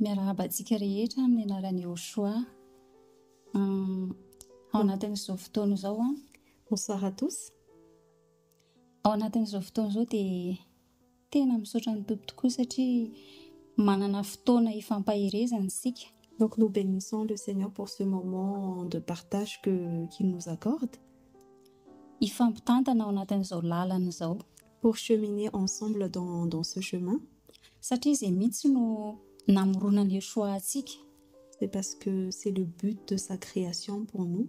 Miarahaba antsika rehetra amin'ny anaran'i Yoshoa. Hum, ao anatin'izao fotoana izao an. Bonsoir à tous. Ao anatin'izao fotoana izao dia Tena misaotra ny Tompo tokoa satria manana fotoana hifampaherezana isika. Donc nous benissons le Seigneur pour ce moment de partage que qu'il nous accorde. Hifampitantana ao anatin'izao lalana izao. Pour cheminer ensemble dans dans ce chemin. Satria izay mihitsy no namoronan'i Yeshua antsika. C'est parce que c'est le but de sa création pour nous.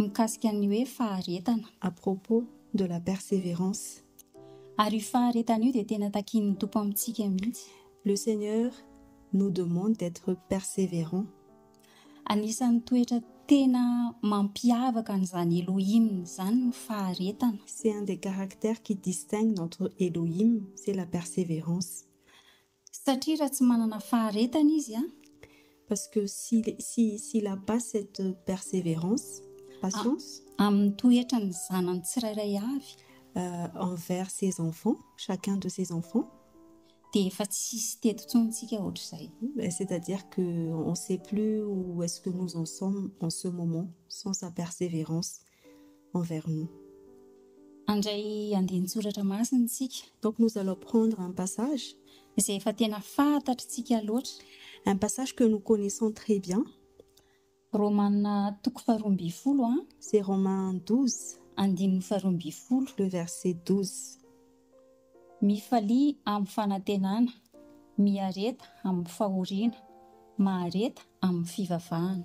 Mikasika ny hoe faharetana. À propos de la perseverance. Ary io faharetana io dia tena takian'ny Tompo amintsika mihitsy. Le Seigneur nous demande d'être perseverant. Anisan'ny toetra tena mampiavaka an'izany Elohim izany ny faharetana. C'est un des caractères qui distingue notre Elohim, c'est la perseverance. Satria raha tsy manana faharetana izy an! Parce que si, si, s'il a pas cette perseverance, patience. Amin'ny toetra ny zanany tsirairay avy. Envers ses enfants, chacun de ses enfants. Dia efa tsy hisy teto intsony tsika ohatr'izay. C'est à dire que on sait plus où est-ce que nous en sommes en ce moment sans sa perseverance. envers nous. Handray andinin-tsoratra masina isika. Donc nous allons prendre un passage. Izay efa tena fantatr'tsika loatra. Un passage que nous connaissons très bien. Romana toko faharoa ambin'ny folo a. C'est Romains 12. Andininy faharoa ambin'ny folo. Le verset 12. Mifalia amin'ny fanantenana, miareta amin'ny fahoriana, mahareta amin'ny fivavahana.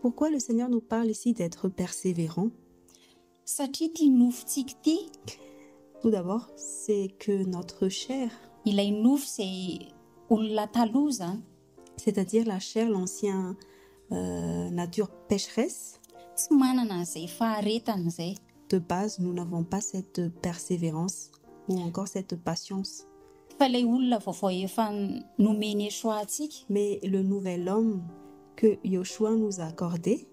Pourquoi le Seigneur nous parle ici d'etre perseverant? Satria ity nofontsika ity. Tout d'abord, c'est que notre chair. Ilay nofo izay olona taloha izany. C'est-à-dire la chair, l'ancien nature pécheresse. Tsy manana an'izay faharetana izay. de base nous n'avons pas cette perseverance ou encore cette patience. Fa ilay olona vaovao efa nomen'i Yeshua antsika. Mais le nouvel homme que Yoshua nous a accordé.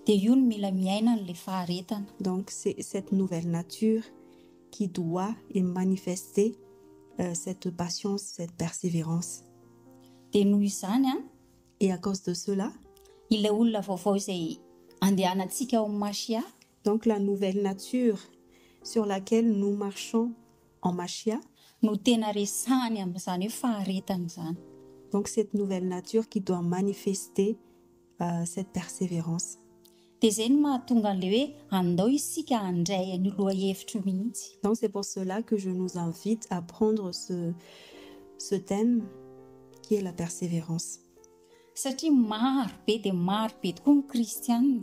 Dia io no mila miaina an'ilay faharetana. Donc c'est cette nouvelle nature qui doit et manifester cette patience, cette perseverance. Dia noho izany an. Et à cause de cela. Ilay olona vaovao izay andehanantsika ao amin'i Mashia. Donc la nouvelle nature sur laquelle nous marchons en Mashiah. No tena resahany amin'izany hoe faharetana izany. Donc cette nouvelle nature qui doit manifester cette perseverance. Dia izay no mahatonga an'ilay hoe andao isika handray an'io lohahevitra io mihitsy. Donc c'est pour cela que je nous invite à prendre ce ce thème qui est la perseverance. Satria maro be dia maro be tokoa ny kristiana.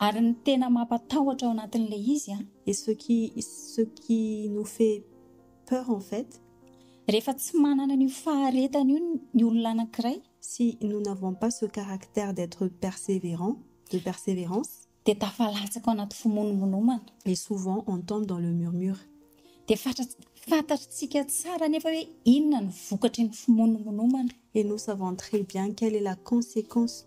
Ary ny tena mampatahotra ao anatin'ilay izy an. Et ce qui ce qui nous fait peur en fait. Rehefa tsy manana an'io faharetana io ny olona anankiray. Si nous n'avons pas ce caractère d'être persévérant, de persévérance. Dia tafalatsaka ao anaty fimonomonomana. Et souvent on tombe dans le murmure. Dia fantatritsika tsara anefa hoe inona no vokatry ny fimonomonomana. Et nous savons très bien quelle est la conséquence.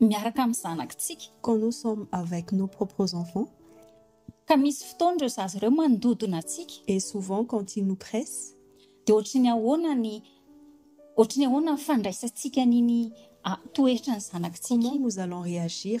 miaraka amin'ny zanakitsika. Quand nous sommes avec nos propres enfants. Ka misy fotoana ireo zaza ireo mandodona antsika. Et souvent quand ils nous pressent. Dia ohatry ny ahoana ny ohatry ny ahoana ny fandraisantsika an'iny toetran'ny zanakitsika iny? Comment nous allons réagir?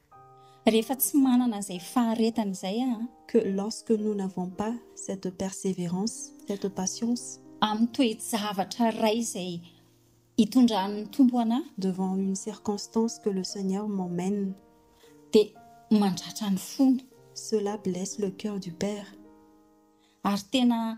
Rehefa tsy manana izay faharetana izay aho. Que lorsque nous n'avons pas cette persévérance, cette patience. Amin'ny toe-javatra iray izay itondran'ny Tompo anà. Devant une circonstance que le Seigneur m'emmène. Dia mandratra ny fony. Cela blesse le cœur du Père. Ary tena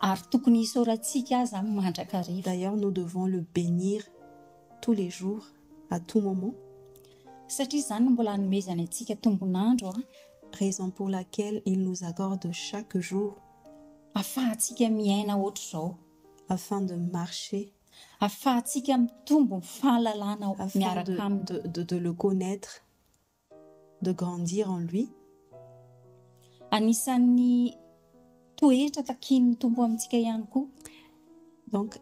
Ary tokony hisaorantsika aza amin'ny mandrakariva. D'ailleurs nous devons le bénir tous les jours, à tout moment. Satria izany no mbola anomezany antsika tombon'andro a. Raison pour laquelle il nous accorde chaque jour. Afahantsika miaina hoatr'izao. Afin de marcher. Afahantsika mitombo ny fahalalana miaraka aminy. Afin de de le connaitre. de grandir en lui. Anisan'ny toetra takian'ny Tompo amintsika ihany koa. Donc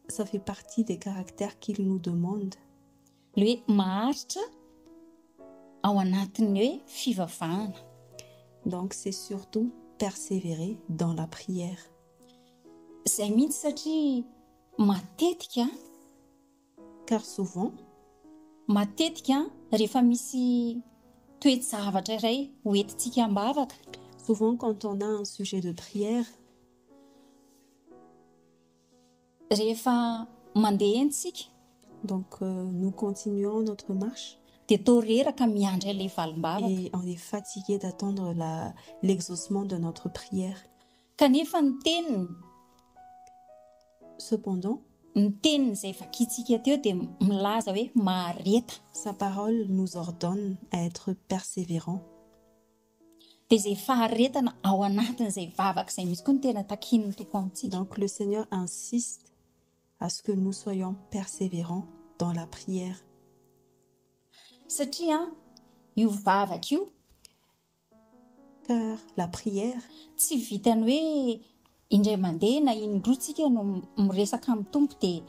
ça fait partie des caractères qu'il nous demande. Le hoe maharitra ao anatin'ny hoe fivavahana. Donc c'est surtout persévérer dans la prière. Izay mihitsy satria matetika Car souvent, matetika rehefa misy toe-javatra iray ho entintsika am-bavaka. Souvent quand on a un sujet de prière. Rehefa mandeha eny isika. Donc nous continuons notre marche. Dia toa reraka miandry an'ilay valim-bavaka. Et on est fatigué d'attendre la l'exaucement de notre prière. Kanefa ny teniny, cependant. Ny teniny izay vakintsika teo dia milaza hoe mahareta. Sa parole nous ordonne à être persévérants. Dia izay faharetana ao anatin'izay vavaka izay mihitsy koa no tena takian'ny Tompo amintsika. Donc le Seigneur insiste à ce que nous soyons persévérants dans la prière. Satria io vavaka io par la prière. Tsy vitan'ny hoe indray mandeha na in-droa tsika no miresaka amin'ny Tompo dia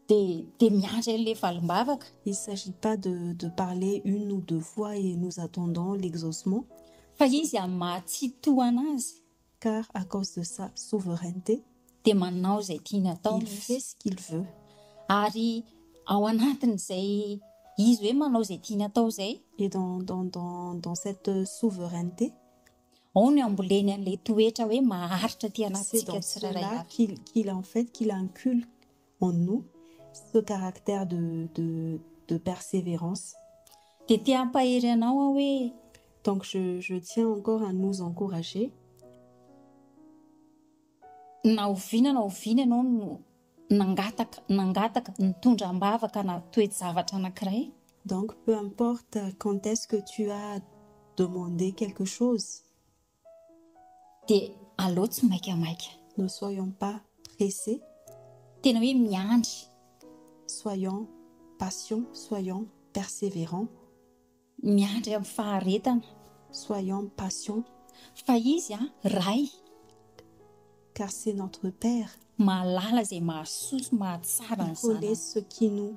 dia dia miandry an'ilay valim-bavaka. Il s'agit pas de de parler une ou deux fois et nous attendons l'exaucement. Fa Izy amin'ny maha-tsy tohana Azy. car à cause de sa souveraineté, dia manao izay tiany atao il izy, fait ce qu'il veut, ary ao anatin'izay izy hoe manao izay tiany atao izay, et dans, dans, dans, dans cette souveraineté, ao no amboleny an'ilay toetra hoe maharitra aty c'est anatintsika dans tsirairay cela avy. qu'il, qu'il en fait, qu'il inculque en nous ce caractère de de de perseverance. Dia te hampahery anao aho hoe. Donc je je tiens encore à nous encourager. Na oviana na oviana ianao no nangataka nangataka nitondra am-bavaka na toe-javatra anankiray. Donc peu importe quand est-ce que tu as demandé quelque chose. Dia aleo tsy maika maika. Ne soyons pas pressés. Tena hoe miandry. Soyons patients, soyons persévérants. Miandry amin'ny faharetana. Soyons patients. Fa Izy an, Ray. Car c'est notre Père. Mahalala izay mahasoa sy mahatsara ny zanany. Il connaît ce qui nous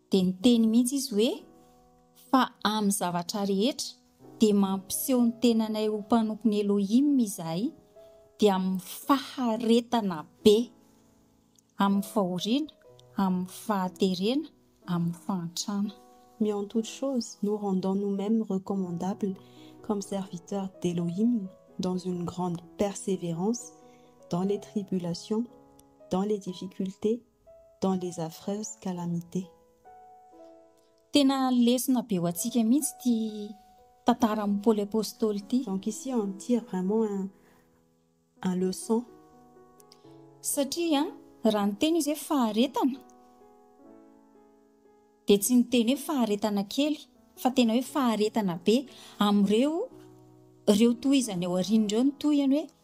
dia niteny mihitsy izy hoe, Fa amin'ny zavatra rehetra dia mampiseho ny tenanay ho mpanompon'i Elohim izahay, dia amin'ny faharetana be, amin'ny fahoriana, amin'ny fahaterena, amin'ny fahantrana. Mais en toute chose nous rendons nous-mêmes recommandables comme serviteurs d'Elohim dans une grande persévérance dans les tribulations, dans les difficultés, dans les affreuses calamités. Tena lesona be ho antsika mihitsy ity tantaran'i Paoly Apostoly ity. Donc ici on tire vraiment un, un leçon. Satria raha niteny izy hoe faharetana dia tsy niteny hoe faharetana kely fa tena hoe faharetana be amin'ireo ireo tohizany ao aoriana ireo ny tohiny hoe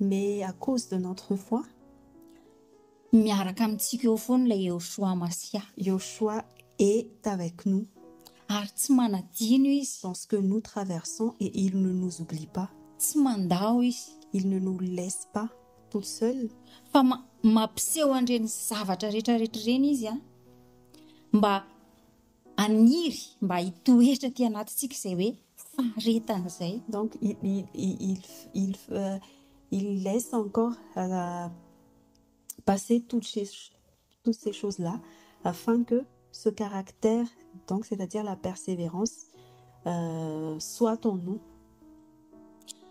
Mais à cause de notre foi, Miaraka amintsika eo foana ilay Yehoshua Masia. Yehoshua est avec nous. Ary tsy manadino Izy. Dans ce que nous traversons et il ne nous oublie pas. Tsy mandao Izy. Il ne nous laisse pas toutes seules. Fa ma- mampiseho an'ireny zavatra rehetra rehetra ireny Izy an. Mba Haniry mba hitoetra aty anatintsika izay hoe faharetana izay. Donc il, il, il, il, il, il laisse encore passer toutes ces, toutes ces choses là afin que ce caractère donc c'est à dire la perseverance soit en nous.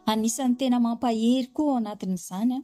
Anisan'ny tena mampahery koa ao anatin'izany an.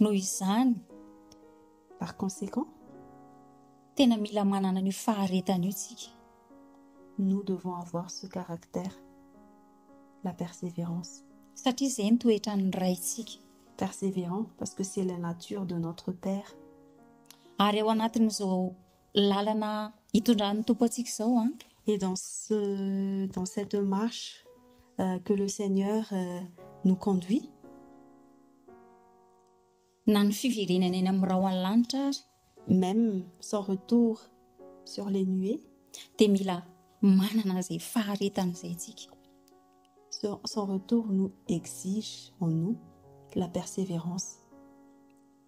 Noho izany, par conséquent, tena mila manana an'io faharetana io isika. Nous devons avoir ce caractère, la persévérance. Satria izay no toetran'ny Raintsika. Persévérant parce que c'est la nature de notre Père. Ary ao anatin'izao Lalana hitondran'ny Tompo antsika izao an! Et dans ce dans cette marche que le Seigneur nous conduit. Na ny fiverenany eny amin'ny rahon'ny lanitra ary. Même sans retour sur les nuées. Dia mila manana izay faharetana izay isika. Ce sans retour nous exige en nous la persévérance.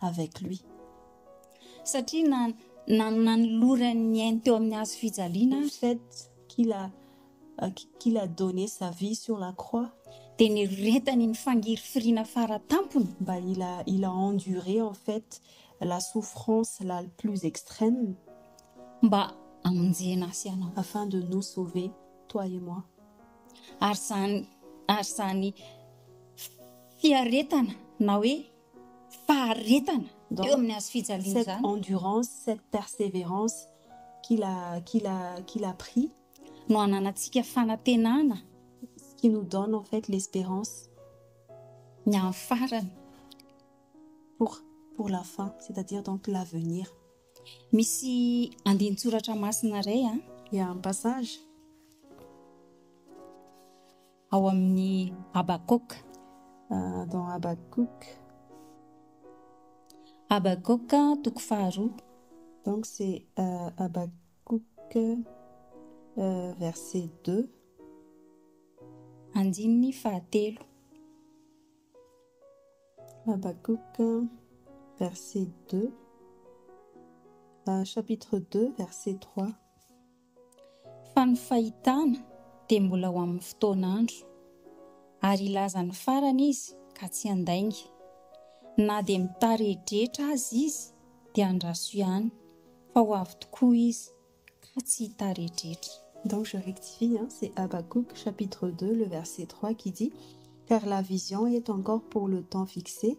avec lui. Satria na na nanolorany ny ainy teo amin'ny hazo fijaliana ary. Fait qu'il a qu'il a donné sa vie sur la croix. Dia nireretany ny fangirifiriana fara tampony. Mba il a il a enduré en fait la souffrance la plus extrême. Mba hamonjena ahy sy anao. Afin de nous sauver toi et moi. Ary izany ary izany fiaretana na hoe. faharetana eo amin'ny hazo fijaliana izany. Cette endurance, cette persévérance qu'il a, qu'il a, qu'il a pris. No ananantsika fanantenana. Ce qui nous donne en fait l'espérance. Ny amin'ny farany. Pour, pour la fin, c'est-à-dire donc l'avenir. Misy andinin-tsoratra masina iray an. Il y a un passage. Ao amin'ny Habakoka. Dans Habakkuk. Habakoka, toko faharoa. Donc c'est Habakkuk verset deux. Andininy fahatelo. Habakkuk verset deux. Chapitre deux verset trois. Fa ny fahitana dia mbola ho amin'ny fotoan'andro. Ary hilaza ny farany izy ka tsy handainga. Na dia mitaredretra aza izy dia andraso ihany fa ho avy tokoa izy ka tsy hitaredretra. Donc je rectifie hein, c'est Habacuc chapitre deux le verset trois qui dit, car la vision est encore pour le temps fixé,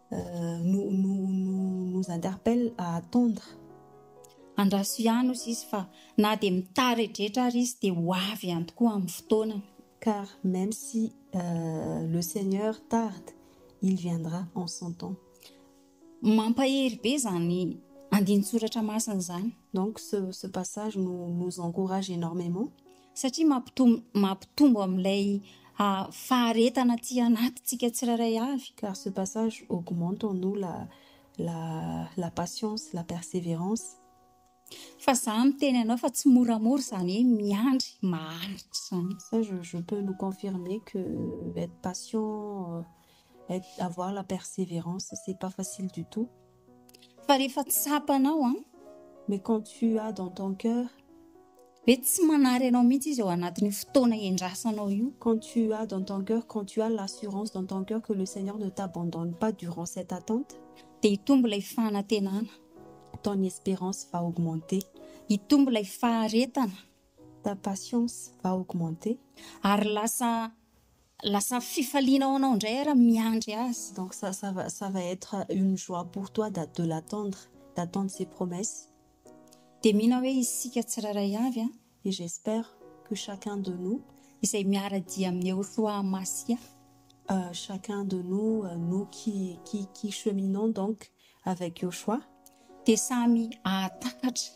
nous interpelle à attendre. Andraso ihany hozy izy fa na dia mitaredretra ary izy dia ho avy ihany tokoa amin'ny fotoanany. Car même si le Seigneur tarde, il viendra en son temps. Mampahery be izany andinin-tsoratra masina izany. Donc ce passage nous encourage énormément. satria mampitombo mampitombo amin'ilay faharetana aty anatintsika tsirairay avy. Car ce passage augmente en nous la la la patience, la perseverance. Fa za miteny anao fa tsy moramora izany hoe miandry maharitra izany. Ça je je peux nous confirmer que être patient, être avoir la perseverance c'est pas facile du tout. Fa rehefa tsapanao an, mais quand tu as dans ton cœur, ve tsy manary anao mihitsy izy ao anatin'io fotoana iandrasanao io? Quand tu as dans ton cœur, quand tu as l'assurance dans ton cœur que le Seigneur ne t'abandonne pas durant cette attente, dia hitombo ilay fanantenana, ton espérance va augmenter, hitombo ilay faharetana, ta patience va augmenter, ary lasa Lasa fifaliana ho anao indray ary miandry azy. Donc ça ça va ça va être une joie pour toi d'a de l'attendre, d'attendre ses promesses. Dia mino aho hoe isika tsirairay avy an, et j'espère que chacun de nous, izay miara-dia amin'i Yehoshoa Masia, euh, chacun de nous, euh, nous qui qui qui cheminons donc avec Yoshoa, dia samy hahatakatra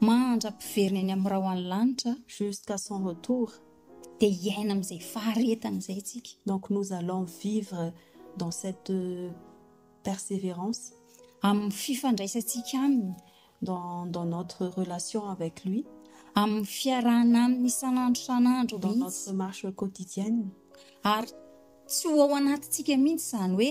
Mahantra mpiverina eny amin'ny rahon'ny lanitra. Jusqu'à son retour, dia hiaina amin'izay faharetana izay isika. Donc nous allons vivre dans cette perseverance. Amin'ny fifandraisantsika Aminy. Dans dans notre relation avec Lui. Amin'ny fiarahana Aminy isan'andro isan'andro mihitsy. Dans notre marche quotidienne. Ary tsy ho ao anatintsika mihitsy izany hoe.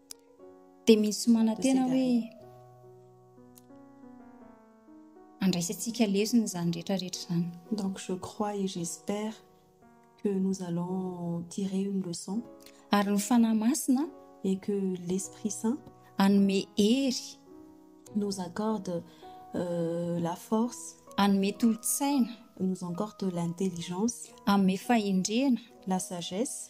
dia misy manantena hoe andraisantsika lesona izany rehetra rehetra izany. Donc je crois et j'espère que nous allons tirer une leçon. Ary ny Fanahy Masina et que l'Esprit Saint anome hery nous accorde euh, la force anome tolotsaina nous accorde l'intelligence anome fahendrena la sagesse